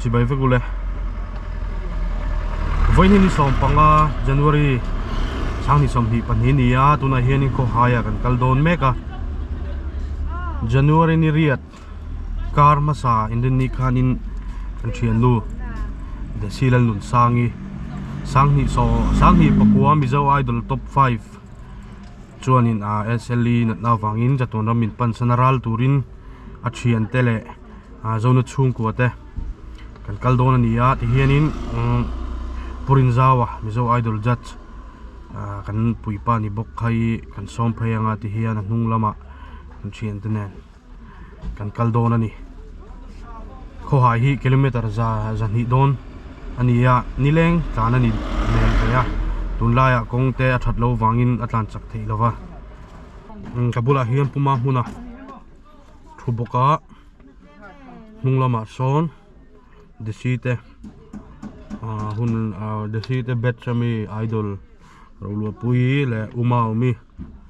chi bai vek ule voi ni som panga january sang ni som hi pani ni a tuna hian in khaw haia kan kal dawn mek a january ni riat kar hmasa in rin ni khan in kan thian nu desi lalnun sangi sang ni so sang ni pakua mizo idol top five chuanin ah SLE natna vangin chatuan ram min pansan a ral turin a thian te leh ah zona chhungkua te kan kal dawn a ni a tihianin umm purin zau a mizo idol judge ah kan puipa ni bawk kha hi kan sawm phei anga tihian a hnung lamah an thian te nen. kan kal dawn a ni khawhai hi kilometer za zahnih dawn a ni a ni leng tlan a ni hmel hle a tun laiah kawng te a that lo vangin a tlan chak theih lova ka bulah hian puma hmun a thu bawk a hnung lamah sawn desi te ah hun ah desi te batch ami idol rawlpui leh uma awmi.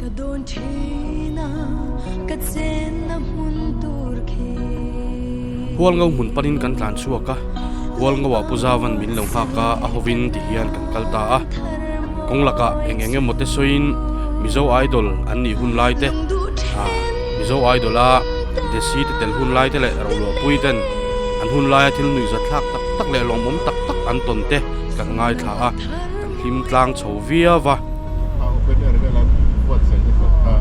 Ka dawn thin a, ka chen na hmun tur khi. Hualngo hmun panin kan tlan chhuak a, Hualngo ah Pu Zavan min lo nghak a, a hovin ti hian kan kal ta a. Kawng lakah eng eng emaw te sawiin Mizo Idol an nih hun lai te, aa. Mizo Idol-a Desi te tel hun lai te leh Rohluahpui ten an hun laia thil nuihzat thlak tak tak leh lawmawm tak tak an tawn te kan ngaithla a, kan hlim tlang chho viau va. A open air vel an buatsaih nasat kha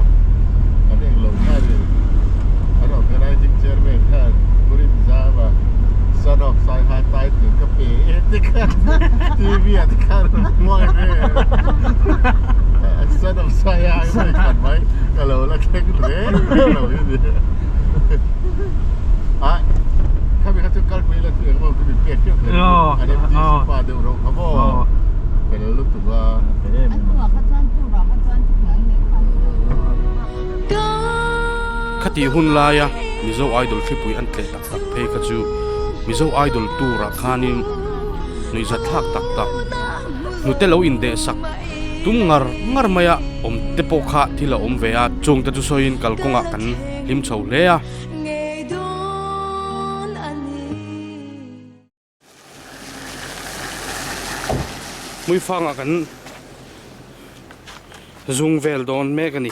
kan eng lo ngai le an organising chairman khan Purim Zama son of Saiha Taitling ka pe e tikhan TV ah tikhan a rawn hmuai ve. Khati hun laia Mizo Idol hripui an tleh tak tak phei kha chu Mizo Idol tur ah khan in nuihzat thlak tak tak hnute lo in deh sak. tum ngar ngar mai a awm te pawh kha thil a awm ve a chung te chu sawi in kal kawng ah kan hlim chho hle a muifang ah kan zung vel dawn mek a ni.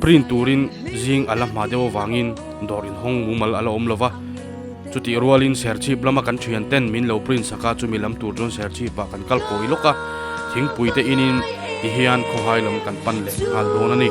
Print turin zing a la hma deuh avangin dawr inhawng mumal a la awm lo va, chutih rualin serchhip lama kan thian ten min lo print sak a, chumi lam tur chuan serchhip ah kan kal pawi lawk a, thingpui te in in ti hian khawhai lam kan pan leh nghal dawn a ni.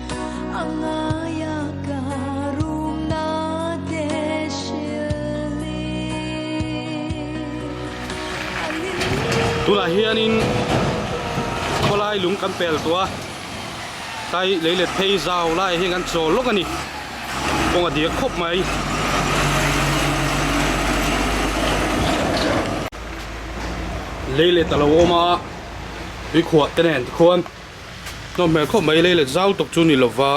Tunah hianin khawlai lung kan pel tawh a, tlai lei let phei zau laiah hian kan chawl lawk a ni, kawng a dir khawp mai. Lei let a lo awm a, tuikhuah te nen te khuan. nawm hmel khawp mai leilet zau tak chu ni lova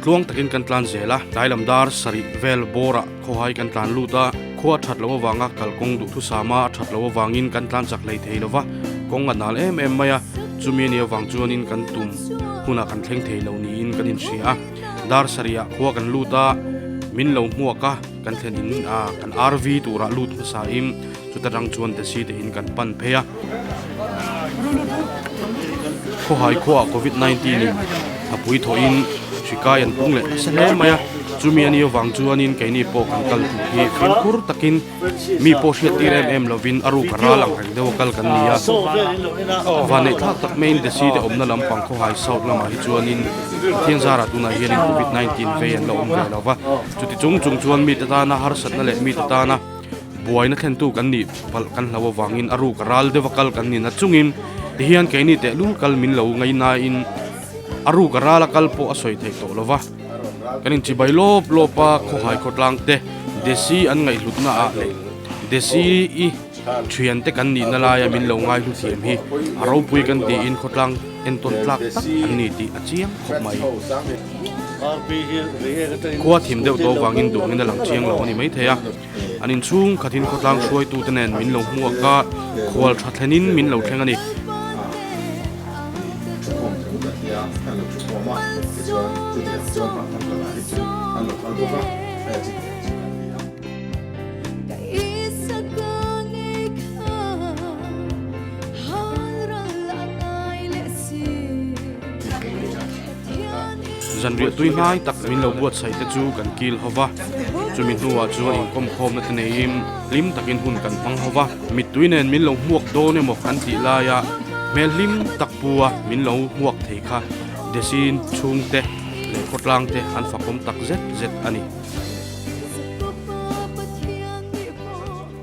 tluang takin kan tlan zel a tlai lam dar sarih vel bawrah. Khawhai kan tlan lut a, khua a that loh avanga kal kawng duh thusama a that loh avangin kan tlan chak hlei thei lo va, kawng a nal em em mai a, chumi a nih avang chuanin kan tum hunah kan thleng thei lo niin kan inhria a. Dar sarihah khua kan lut a, min lo hmuak a, kan thlen in kan arvi turah lut hmasahin, Chuta tang chuan desi te in kan pan phei a. Khawhai khuaa Covid 19 in a pui thaw in hrikai an pung leh se hle mai a. Chumi a ni avang chuan in keini pawh kan kal hmuh hi fim khur tak in mi pawh hriat tir em em lo in a ruk a ral ang reng deuh a kal kan ni a. Van neih thlak tak mai in desi te awmna lam pang khawhai south lam ah hi chuan in Thianzar ah tunah hian in Covid 19 vei an lo awm ve lo va. Chuti chung chung chuan mi te tana harsatna leh mi te tana. buaina thlentu kan nih palh kan hlau avangin a ruk a ral deuh a kal kan ni na chungin tihian keini tehlul kal min lo ngaih nain a ruk a ral a kal pawh a sawi theih tawh lova kan inchibai lawp lawp a khawhai khawtlang te desi an ngaihhlutna ah leh desi i thiante kan nihna laia min lo ngaihlu thiam hi a ropui kan tiin khawtlang entawn tlak tak an ni tih a chiang khawp mai. Khua thim deuh tawh vangin duangin a lang chiang lo a ni maithei a, an inchhung khatin khawtlang hruaitu te nen min lo hmuak a, khual tha thlenin min lo thleng a ni. Zanriah tui hnai tak min lo buatsaih te chu kan kil ho va, chumi hnuah chuan inkawm khawmna te neiin hlim takin hun kan hmang ho va. Mittui nen min lo hmuak dawn emaw kan tih laia hmel hlim tak pua min lo hmuak thei kha Desi'n chhungte leh khawtlangte an fakawm tak zet zet a ni.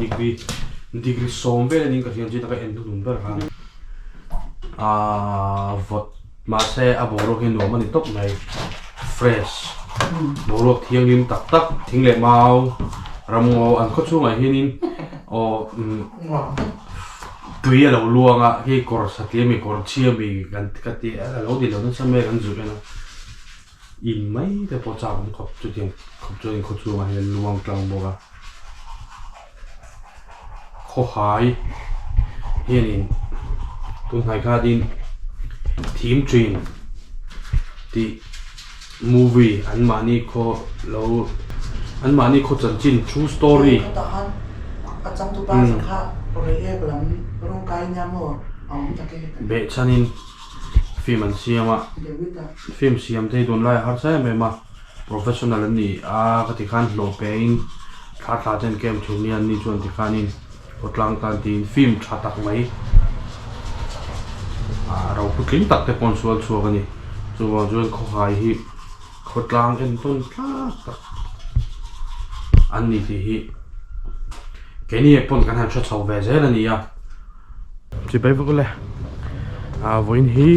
degree degree sawm vel in ka hria chin a ka en hnu ber han aa vawt mahse a boruak hi nuam a ni tawp mai fresh boruak thianghlim tak tak thing leh mau ramngaw an khaw chhungah hianin aw tui a lo luang a hei kawr satliam leh kawr chhia mi kan ka ti a lo ni lo nasa mek an zui a. In mai te pawh chak awm khawp chutiang khawp chuan in khaw chhungah hian luang tlang bawk a khawhai hianin tunhnai kha din thim thin tih movie an mahni khaw lo an mahni khaw chanchin true story beh chhanin. Film an siam a, film siam te hi tun laiah harsa em em a professional an ni a ka ti khan hlawh pe in thla thla te an kem thin hi an ni chuan ti khan in aw tlang tan ti in film tha tak mai ah ro putling tak te paw'n sual chhuak a ni chu vang chuan khawhai hi khawtlang en tawn tlat tak an ni tih hi keini ah pawn kan han hre chho ve zel a ni a. Chi bai vak le a vawiin hi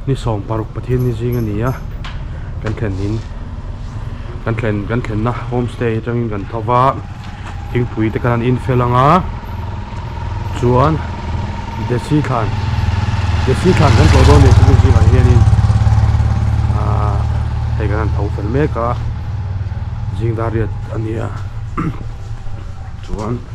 ni sawm paruk pathian ni zing a ni a kan thlen in kan thlen kan thlenna home stay atang in kan tho va thingpui te kan han infel ang a chuan desi thlan desi thlan kan tawh dawn leh chu ni zingah hian in ahh hei kan han tho fel mek a zingdariat a ni a chuan--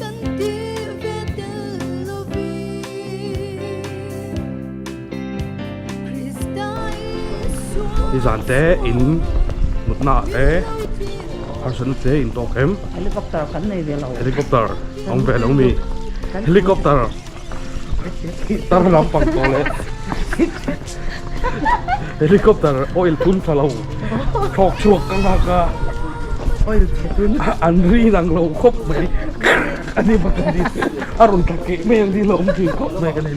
Kan ti ve tel lovin Krista Isua Hi zan te in mutna ah te harsatna te in tawk em? Helicopter kan nei ve lo. Helicopter awm ve lo mi. Helicopter. Tar lampang tawh leh Helicopter oil tun tha lo Thlawk chhuak ka nghak a Oil tha tun An rin ang lo khawp mai A ni bawk a ni A rawn tla keh mai ang dih lo awm thin khawp mai ka nen.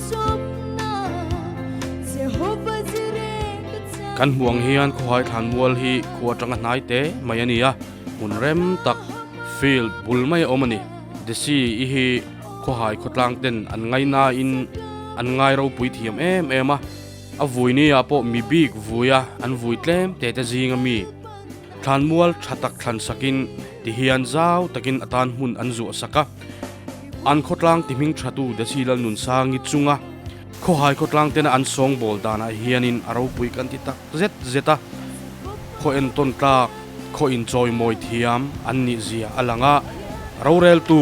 Kan hmuh ang hian khawhai thlan mual hi khua tanga hnai te mai a ni a, hmun rem tak field bul mai a awm a ni. Desi i hi khawhai khawtlang ten an ngai nain an ngai ropui thiam em em a, a vui ni ah pawh mi bik vuia an vui tlem tete zing a mi. Thlanmual tha tak thlan sakin ti hian zau takin a tan hmun an zuah sak a, an khawtlang tihming thatu Desi Lalnunsangi chunga khawhai khawtlang tena an sawngbawl danah hianin a ropui kan ti tak zet zet a, khawhen tawntlak, khawhin chawimawi thiam an nihzia a lang a, roreltu.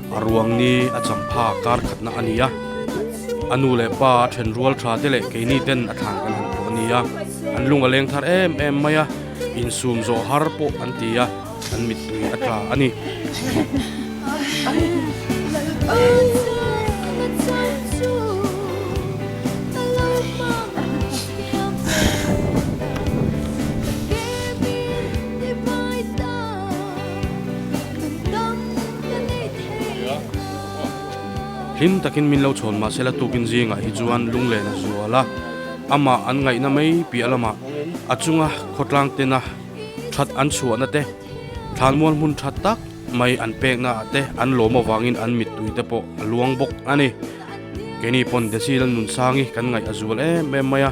A ruang ni a champha kar khatna a ni a, a nu leh pa a then rual tha te leh keini ten a thlan kan han pawh a ni a, an lung a leng thar em em mai a, insum zawh har pawh an ti a, an mittui a tla a ni. Hlim takin min lo chhawn mah se la tukin zingah hi chuan lunglen a zual a, amah an ngaihna mai piah lamah a chunga khawtlang tena that an chhuahna te, thlanmual hmun that tak mai an pekna ah te an lawm avangin an mittui te pawh a luang bawk a ni. Keini pawn Decile-a nunsangi kan ngaih a zual em em mai a.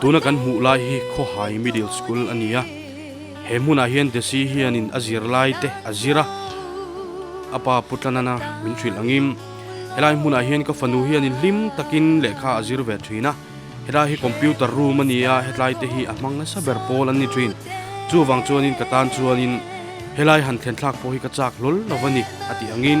Tuna kan hmuh lai hi Khawhai Middle School a ni a, he hmunah hian Desi hianin a zirlaite a zir a, a pa Pu Tlanana min hrilh angin helai hmunah hian ka fanu hianin hlim takin lehkha a zir ve thin a, helai hi computer room a ni a, hetlaite hi a hmang nasa ber pawl an ni thin, chuvang chuanin ka tan chuanin helai han thlen thlak pawh hi ka chak hlawl lo a ni a tih angin.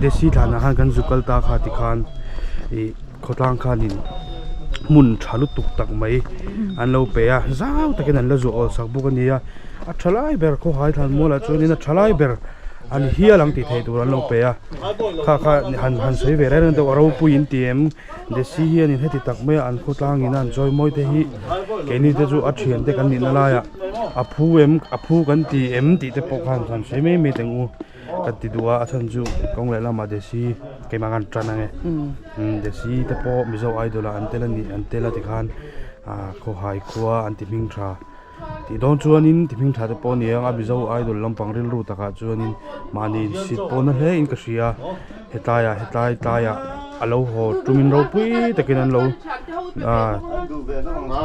Desi thlahna khan kan zuk kal ta kha ti khan ih khawtlang khanin hmun tha lutuk tak mai an lo pe a zau takin an la zawh awl sak bawk a ni a a tha lai ber khawhai tlan mual ah chuan in a tha lai ber a ni hial ang tih theih tur an lo pe a kha kha han han sawi ve reng reng deuh a ropui in tih em desi hianin heti tak mai a an khawtlang in a an chawi mawi te hi keini te chu a thian te kan nih na lai ah a phu em a phu kan ti em tih te pawh khan han sawi mai mai teng u. Kan ti duh a, a chhan chu kawng leh lamah desi keimah khan an tan ang e. Desi te pawh Mizo idol ah an tel a nih, an tel a ti khan khawhai khua an ti hming tha. Tih dawn chuanin ti hming tha te pawh a ni ang a, Mizo idol lampang rilru takah chuanin mahni insit pawh na hlein ka hria. Hetlaiah hetlai tlaiah a lo haw tumin ropui takin an lo aah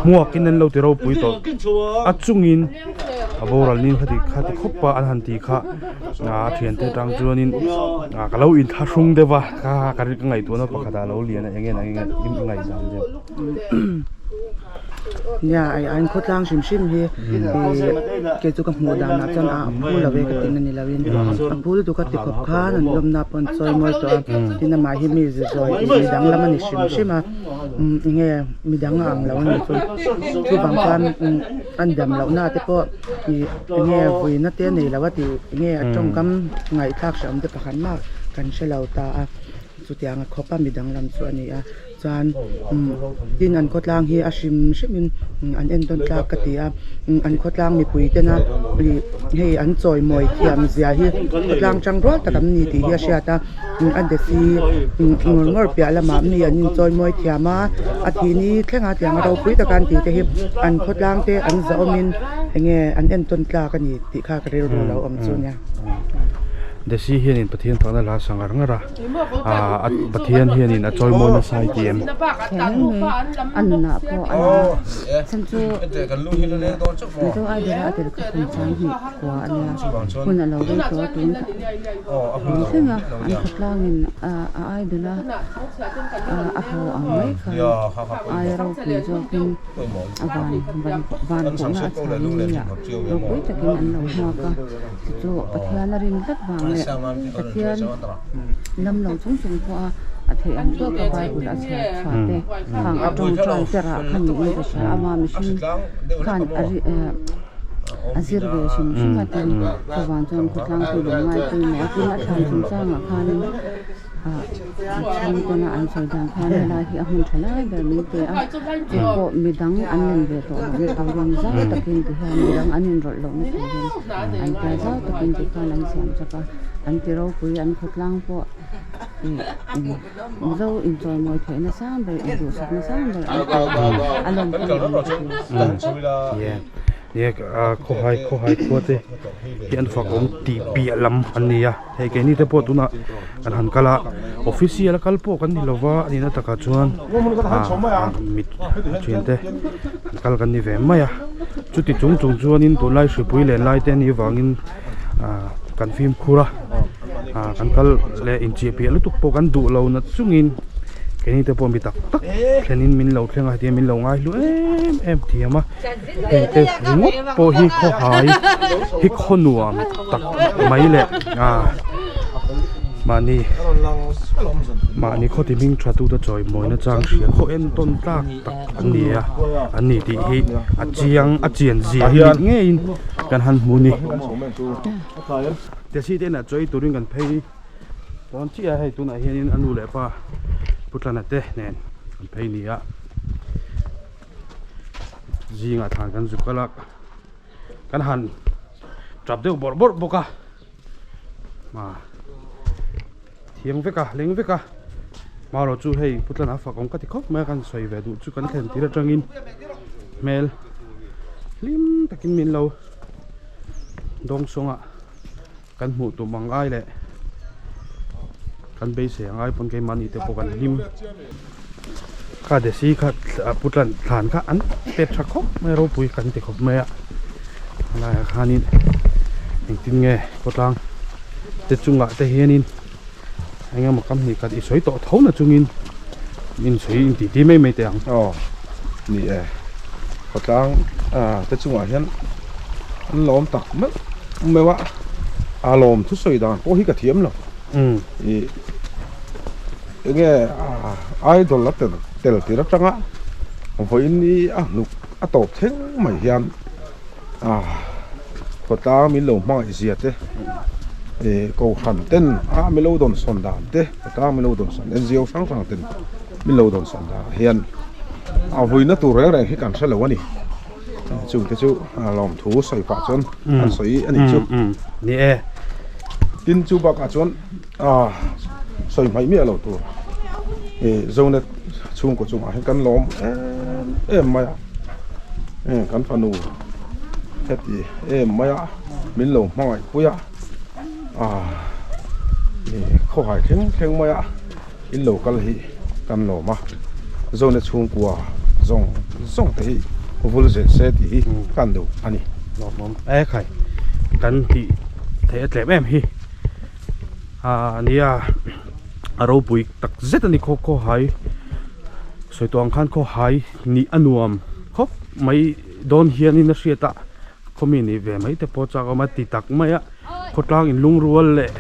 hmuakin an lo ti ropui tawh a chungin a boral ni kha tih kha ti khawp a an han tih kha aah a thiante atang chuanin ka lo inthlahrung deuh a ka ka ngaihtuahna pakhatah a lo lian a eng nge eng nge i ngaihdan deuh. Nia a inkhawtlang hrim hrim hi kei chu ka hmuh dan ah chuan a pu lo e ka ti na ni lo in a pu lutuk a tikhawp khan an lawm na pawh an sawi mawi tawh a tin amah hi mi zi zawi mi dang lam ani hrim hrim a eng nge mi dang a ang lo a ni chu chu bang khan a dam loh na te pawh ih eng nge vawi na te nei lo a tih eng nge a tawngkam ngaih thlak hreh awm te pahran maw kan hre lo ta a chutiang a khawp a mi dang lam chu a ni a. Chuan tin an khawtlang hi a hrim hrimin an en dawn tlak ka ti a, an khawtlang mipui tena ih hei an chawimawi thiamzia hi khawtlang chang rual tak an ni tih hi a hriat a, a det hi ngawr ngawr piah lamah mi an inchawimawi thiam a, a thih ni thleng a tianga ropui taka an ti te hi an khawtlang te an zahawmin eng nge an en tawn tlak a ni tih kha ka rilru lo awm chu nia. Desi hianin Pathian fakna la a sa ngar ngar a. Ahh Pathian hian in a chawimawi nasa i ti em? Chu chu Pathiana rin tlat vang leh Pathian lam lo chung chung pawha a theih ang tawk a Bible a chhiar chhuah te khang a tawng tan te rah kha niin ka hria a ma mihring khan a ri eh a zir ve hrim hrim a tin khawvang chuan khawtlangpui lung ngaipui maw a tin a thlan chung changah khanin. Chhung tuna an sawi dan khan helai hi a hmun tha lai ber min pe a, chu pawh midang an nen ve tawh loh na tur rawng zau takin ti hian midang an inrawlh loh na tur in an tia zau takin ti khan an siam chap a, an ti ropui an khawtlang pawh ih mizo inchawi mawi theih na sang ber induhsak na sang ber an ti a, a lawm pawh a awm tawh chu. Khawhai khua te hi an fak awm tih piah lam an ni a. Hei keini te pawh tunah kan han kal a official a kal pawh kan ni lova a nihna takah chuan ah mit ṭhin te an kal kan ni ve mai a chuti chung chung chuanin tunlai hripui len lai te nih vangin ah kan fimkhur a ah kan kal leh incheh piah lutuk pawh kan duh lo nat chungin keini te pawh mi tak tak thlenin min lo thleng a hetiang min lo ngai hlu em em thiam a. Heng te ringawt pawh hi khawhai hi khaw nuam tak mai leh a mahni mahni khaw ti hming thattu te chawimawina chang hria khaw entawn tlak tak an ni a an ni tih hi a chiang a chianzia hi mit ngeiin kan han hmu ni Tesi te inah chawi turin kan phei dawn chiah a hei tunah hianin a nu leh a pa Pu Tlana te nen kan phei ni a. zingah thlan kan zuk kal a kan han tap deuh bawrh bawrh bawk a hma thiang vek a leng vek a hma rawh chu hei pu tlanah fak awm ka ti khawp mai a kan sawi ve duh chu kan thlen tir atangin hmel hlim takin min lo dawng sawng a. Kan hmuh tum ang ngai leh kan beisei angai pawn keimahni te pawh kan hlim. Kha desi kha pu tlan thlan kha an pet tha khawp mai ropui kan ti khawp mai a. Laiah khanin engtin nge khawtlang te chungah te hianin. engemaw ka hnih khat i sawi tawh tho na chungin min sawi in titi mai mai teh ang. Aw ni e, khawtlang te chungah hian an lawm tak meuh meuh a, a lawm thu sawi dan pawh hi ka thiam lo i enge idol la tel tel tir atanga vawiin i a hnuk a tawp thleng mai hian, ah khawtlang min lo hmaizia te eh kohhran ten ah min lo dawn sawn dan te khawtlang min lo dawn sawn en zio hrang hrang ten min lo dawn sawn dan ah hian a vawiina tur reng reng hi kan hre lo a ni chute chu a lawmthu sawi pah chuan an sawi a nih chu ni e tin chu bakah chuan-- Aa sawi hmaih miah lo tur i zona chhungkaw chungah hian kan la awm em em mai a, heng kan fanu heti em mai a min lo hmangaihpui a, aa i khawhai thleng thleng mai a in lo kal hi kan lawm a, zona chhungkua zawng zawng te hi vul zel se tih hi ka an duh a ni. Hlawhmawm ekhai kan tih theih a tlem em hi. Aa nia a ropui tak zet a ni khawp khaw hai sawitua khan khaw hai nih a nuam khawp mai dawn hianin a hriat a khawmi nih ve mai te pawh a chak a awm a ti tak mai a khawtlang in lungrual leh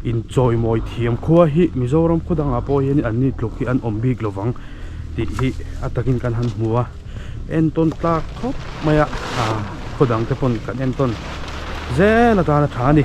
inchawimawih thiam khua hi Mizoram khawdangah pawh hian an ni tluk hi an awm bik lovang tih hi a takin kan han hmu a. entawn tlak khawp mai a ah khaw dang te pawn kan entawn zel atan a tha a ni.